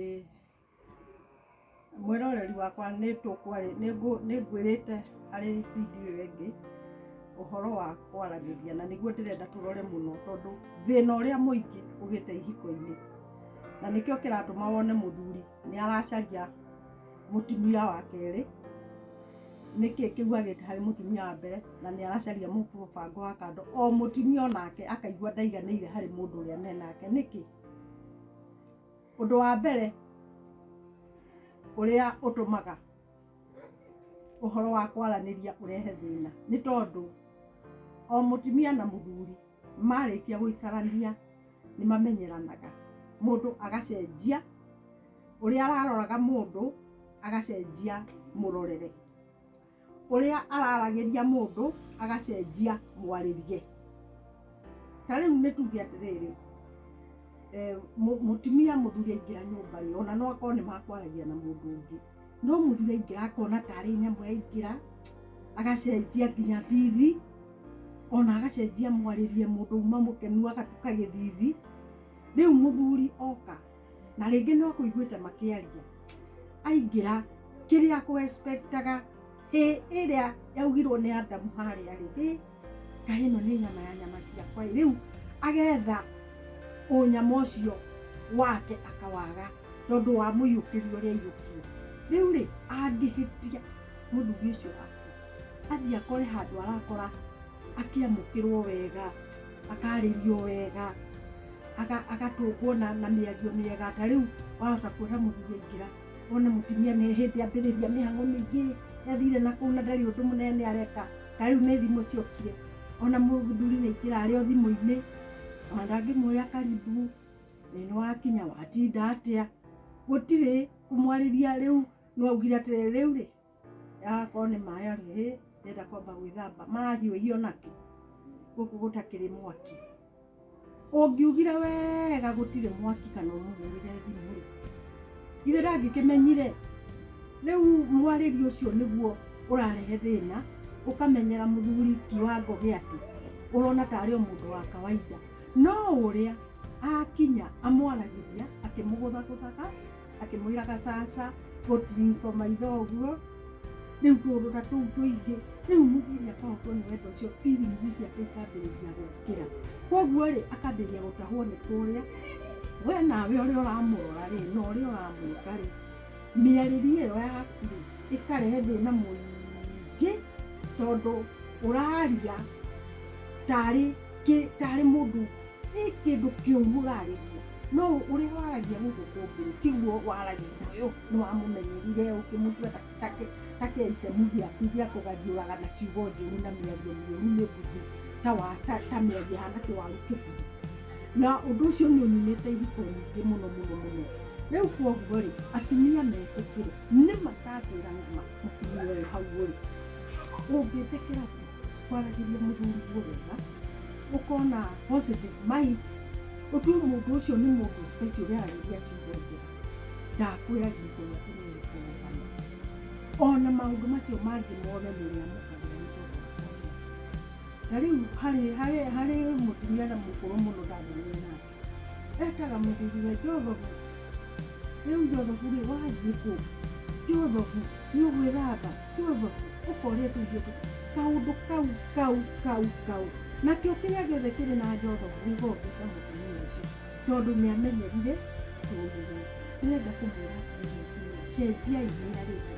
Ĩĩ. Mwĩroreri wakwa nĩ tũkwarĩ, nĩ ngũ, nĩ ngwĩrĩte harĩ video ĩyo ĩngĩ, ũhoro wa kwaranĩria, na nĩguo ndĩrenda tũrore mũno tondũ thĩna ũrĩa mũingĩ ũgĩte ihiko-inĩ, na nĩkĩo kĩratũma wone mũthuri nĩ aracaria mũtumia wa kerĩ, nĩkĩ kĩu agĩte harĩ mũtumia wa mbere, na nĩ aracaria mũbango wa kando, o mũtumia onake akaigua ndaiganĩire harĩ mũndũ ũrĩa menake, nĩkĩ? Ũndũ wa mbere ũrĩa ũtũmaga ũhoro wa kwaranĩria ũrehe thĩna nĩ tondũ o mũtumia na mũthuri marĩkia gũikarania nĩ mamenyeranaga, mũndũ agacenjia ũrĩa araroraga mũndũ agacenjia mũrorere. ũrĩa araragĩria mũndũ agacenjia mwarĩrie. Ta rĩu nĩ tuge atĩrĩrĩ, eh, mũ- mũtumia mũthuri aingĩra nyũmba rĩ, ona no akorwo nĩ makwaragia na mũndũ ũngĩ, no mũthuri aingĩra akona tarĩ nyamũ yaingĩra, agacenjia nginya thithi, ona agacenjia mwarĩrie mũndũ uma mũkenu agatuĩka gĩthithi, rĩu mũthuri oka Na rĩngĩ no kũiguĩte makĩaria. Aingĩra, kĩrĩa akũ expectaga, hĩ ĩrĩa yaugirwo nĩ Adamu harĩa rĩ, hĩ, kaĩ ĩno nĩ nyama ya nyama ciakwa ĩ. Rĩu agetha ũnyama ũcio wake akawaga tondũ wa mũiyũkĩrio ũrĩa aiyũkire. Rĩu rĩ, angĩhĩtia mũthuri ũcio wakwa, athiĩ akore handũ arakora akĩamũkĩrwo wega. akarĩrio wega agatũngwo na mĩario mĩega ta rĩu wahota kuona mũthuri aingĩra wone mũtumia nĩ hĩndĩ ambĩrĩria mĩhango mĩingĩ athire na kũu na ndarĩ ũndũ mũnene areka ta rĩu nĩ thimũ ciokire ona mũthuri nĩ aingĩra arĩ o thimũ-inĩ ona ndangĩmwoya karibu ĩ nĩ wakinya watinda atĩa gũtirĩ kũmwarĩria rĩu nĩ waugire atĩrĩ rĩu rĩ Agakorwo nĩ maĩ arĩ hĩ, ndĩrenda kwamba gwĩthamba. Marahiũhio nakĩ? Gũkũ gũtakĩrĩ mwaki. Ũngiugire wega gũtirĩ mwaki kana ũmũhũrĩre thimũ-rĩ, githĩ ndangĩkĩmenyire? Rĩu mwarĩrie ũcio nĩguo ũrarehe thĩna, ũkamenyera mũthuri kiwango gĩa atĩ ũrona tarĩ o mũndũ wa kawaida. No ũrĩa akinya amwaragĩria akĩmũgũthagũthaga. akĩmwĩra gacaca gũtiriko maitho ũguo rĩu tũrũra tũu tũingĩ rĩu mũthiri akahotwo nĩ wendo ũcio feelings ciake ikambĩrĩria gũkĩra koguo rĩ akambĩrĩria gũtahwo nĩ kũrĩa we nawe ũrĩa ũramũrora rĩ na ũrĩa ũramwĩka rĩ mĩarĩrie ĩyo yaku rĩ ĩkarehe thĩna mũingĩ tondũ ũraria tarĩ kĩ tarĩ mũndũ Nĩ kĩndũ kĩũru ũrarĩa ũguo. No ũrĩa waragia gũkũ kũngĩ rĩ, tiguo waragia na ũyũ. Nĩ wamũmenyerire ũkĩmũtua ta- ta kĩ- ta kĩaitemu gĩaku gĩa kũgathiũraga na ciugo njũru na mĩario mĩũru mĩbuthu ta wa- ta- ta mĩario ĩhana kĩwaru kĩbuthu. Na ũndũ ũcio nĩ ũninĩte ihiko nyingĩ mũno mũno mũno. Rĩu kwoguo rĩ, atumia metĩkĩre. Nĩ ma ndakwĩra nĩ ma, mũtumia ũyũ hau ũrĩ, ũngĩtĩkĩra atĩa? kwaragĩria mũthuri guo wega ũkona positive mind ũtue mũndũ ũcio nĩ mũndũ special ũrarĩria ciugo njega ndakwĩra gĩko gĩa kũmenya kũrũgama ona maũndũ macio mangĩ mothe nĩrĩamũkagĩra nĩ tondũ wa kwaria. na rĩu harĩ harĩ harĩ mũtumia na mũkũrũ mũno ndangĩmenya nake ekaga mũthuriwe njothogu rĩu njothogu rĩ wathiĩ kũ njothogu nĩ ũgwĩthamba njothogu ũkorĩa tũirio tũ kaũndũ kau kau kau kau nakĩo kĩrĩa gĩothe kĩrĩ na njothogu gĩgokĩka mũtumia ũcio tondũ nĩ amenyerire tũirio ndĩrenda kũmwĩra atĩrĩrĩ, cenjiai mĩarĩre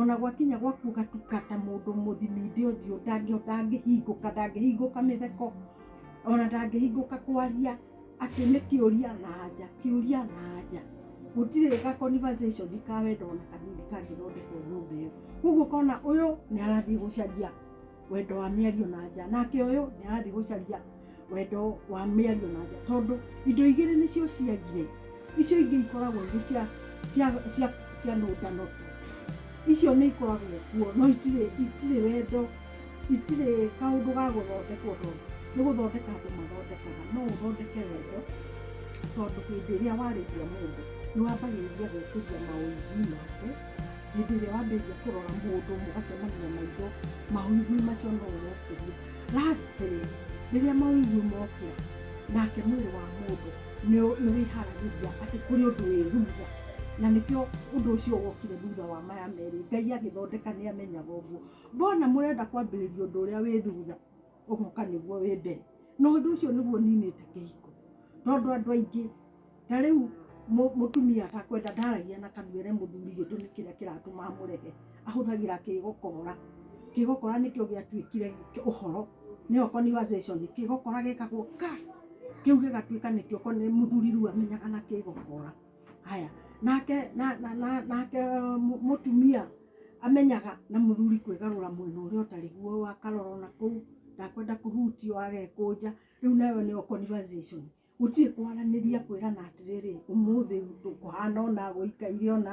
ona gwakinya gwa kũgatuka ta mũndũ mũthiminde ũthiũ ndangĩhota angĩhingũka ndangĩhingũka mĩtheko ona ndangĩhingũka kwaria atĩ nĩ kĩũria na anja kĩũria na anja gũtirĩ ga conversation ka wendo ona kanini kangĩthondekwo nyũmba ĩyo, kwoguo ũkona ũyũ nĩ arathiĩ gũcaria. wendo wa mĩario na nja nake ũyũ nĩ arathiĩ gũcaria wendo wa mĩario na nja tondũ indo igĩrĩ nĩcio ciagire icio ingĩ ikoragwo irĩ cia cia cia cia nũndano tu icio nĩ ikoragwo kuo no itirĩ itirĩ wendo itirĩ kaũndũ ga gũthondekwo tondũ nĩ gũthondeka andũ mathondekaga no ũthondeke wendo tondũ hĩndĩ ĩrĩa warĩria mũndũ nĩ wambagĩrĩria gwĩkĩrĩria maũndũ make hĩndĩ ĩrĩa wambĩrĩria kũrora mũndũ mũgacemania maitho maũigui macio no ũrokĩrie lastly rĩrĩa maũigui mokĩra nake mwĩrĩ wa mũndũ nĩ- nĩ wĩharagĩria atĩ kũrĩ ũndũ wĩ thutha na nĩkĩo ũndũ ũcio wokire thutha wa maya merĩ ngai agĩthondeka nĩ amenyaga ũguo mbona mũrenda kwambĩrĩria ũndũ ũrĩa wĩ thutha ũgoka nĩguo wĩ mbere na ũndũ ũcio nĩguo ninĩte kĩhiko tondũ andũ aingĩ ta rĩu mũ- mũtumia atakwenda ndaragia na kanua ere mũthuri gĩtũmi kĩrĩa kĩratũma amũrehe ahũthagĩra kĩgokora kĩgokora nĩkĩo gĩatuĩkire kĩ- ũhoro nĩyo conversation kĩgokora gekagwo ka kĩu gĩgatuĩka nĩkĩo ko- nĩ mũthuri rĩu amenyaga na kĩgokora haya nake na, na, na, nake mu- mũtumia amenyaga na mũthuri kwĩgarũra mwena ũrĩa ũtarĩ guo wakarora ona kũu ndakwenda kũhutio agekũnja rĩu nayo nĩyo conversation gũtirĩ kwaranĩria kwĩrana atĩrĩrĩ ũmũthĩ tũkũhana ũna gũikaire ũna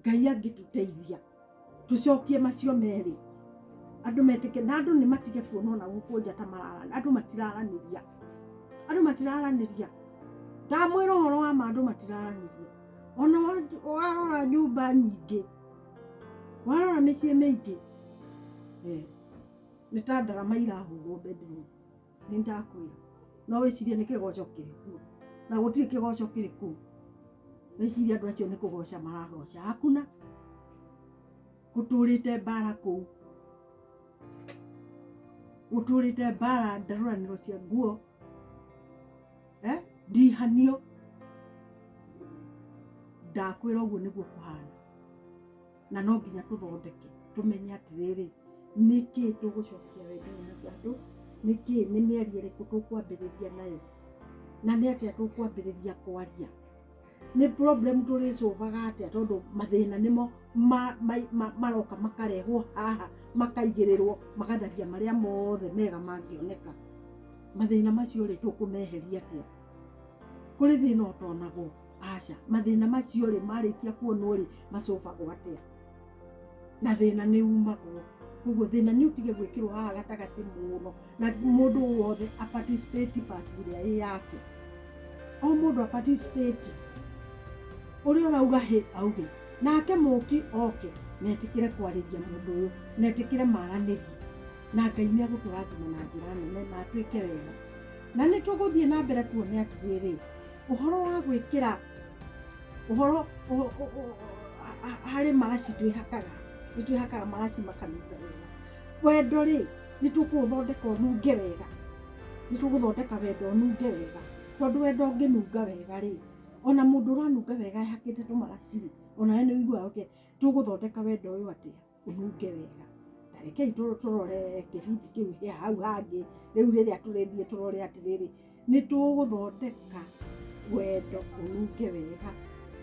ngai angĩtũteithia tũcokie macio merĩ andũ metĩke na andũ nĩ matige kuona ona gũkũ nja ta marara andũ matiraranĩria andũ matiraranĩria ndamwĩra ũhoro wa ma andũ matiraranĩria ona wa- warora nyũmba nyingĩ warora mĩciĩ mĩingĩ eh, nĩ ta ndarama irahũrwo bedroom nĩ ndakwĩra no wĩcirie nĩ kĩgoco kĩrĩ kuo na gũtirĩ kĩgoco kĩrĩ kuo wĩcirie andũ acio nĩ kũgoca maragoca hakuna gũtũrĩte mbara kũu gũtũrĩte mbara ndarũranĩro cia nguo eh? ndihanio ndakwĩra ũguo nĩguo kũhana na no nginya tũthondeke tũmenye atĩrĩrĩ nĩkĩ tũgũcokia wendo na andũ nĩkĩ nĩ mĩario ĩrĩkũ tũkwambĩrĩria nayo na nĩ atĩa tũkwambĩrĩria kwaria nĩ problem tũrĩcũvaga atĩa tondũ mathĩna nĩmo maroka makarehwo haha makaigĩrĩrwo magatharia marĩa mothe mega mangĩoneka mathĩna macio rĩ tũkũmeheria atĩa kũrĩ thĩna ũtonagwo. aca mathĩna macio rĩ marĩkia kuonwo rĩ macobagwo atĩa na thĩna nĩ umagwo koguo thĩna nĩ ũtige gwĩkĩrwo haha gatagatĩ mũno na mũndũ wothe a participate part ĩrĩa ĩ yake o mũndũ a participate ũrĩa ũrauga hĩ auge nake mũki oke netĩkĩre kwarĩria mũndũ ũyũ netĩkĩre maranĩrie na ngai nĩ agũtũrathima na njĩra nene na twĩke wega na nĩ tũgũthiĩ na mbere tuone atĩrĩrĩ Ũhoro wa gwĩkĩra ũhoro harĩ maraci twĩhakaga, nĩ twĩhakaga maraci makanunga wega. Wendo rĩ, nĩ tũkũũthondeka ũnunge wega, nĩ tũgũthondeka wendo ũnunge wega, tondũ wendo ũngĩnunga wega rĩ, ona mũndũ ũranunga wega ehakĩte tũmaraci rĩ, onawe nĩ ũiguaga ũkĩ, tũgũthondeka wendo ũyũ atĩa? Ũnunge wega. Na rekei tũ- tũrore kĩbindi kĩu gĩa hau hangĩ. Rĩu rĩrĩa tũrĩthiĩ tũrore atĩrĩrĩ, nĩ tũgũthondeka wendo ũnunge wega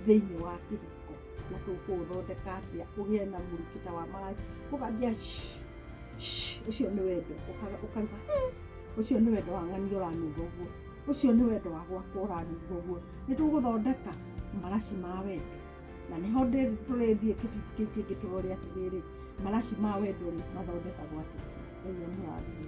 thĩinĩ wa kĩhiko. Na tũkũũthondeka atĩa ũgĩe na mũrukĩ ta wa maraika, ũkambia shhh, shhh, ũcio nĩ wendo. Ũka- Ũkauga he, ũcio nĩ wendo wa ng'ania ũranunga ũguo. Ũcio nĩ wendo wa gwakwa ũranunga ũguo. Nĩ tũgũthondeka maraci ma wendo. na nĩho ndĩthi tũrĩthiĩ kĩbindi kĩu kĩngĩ tũrore atĩrĩrĩ maraci ma wendo rĩ mathondekagwo atĩa ngai amũrathime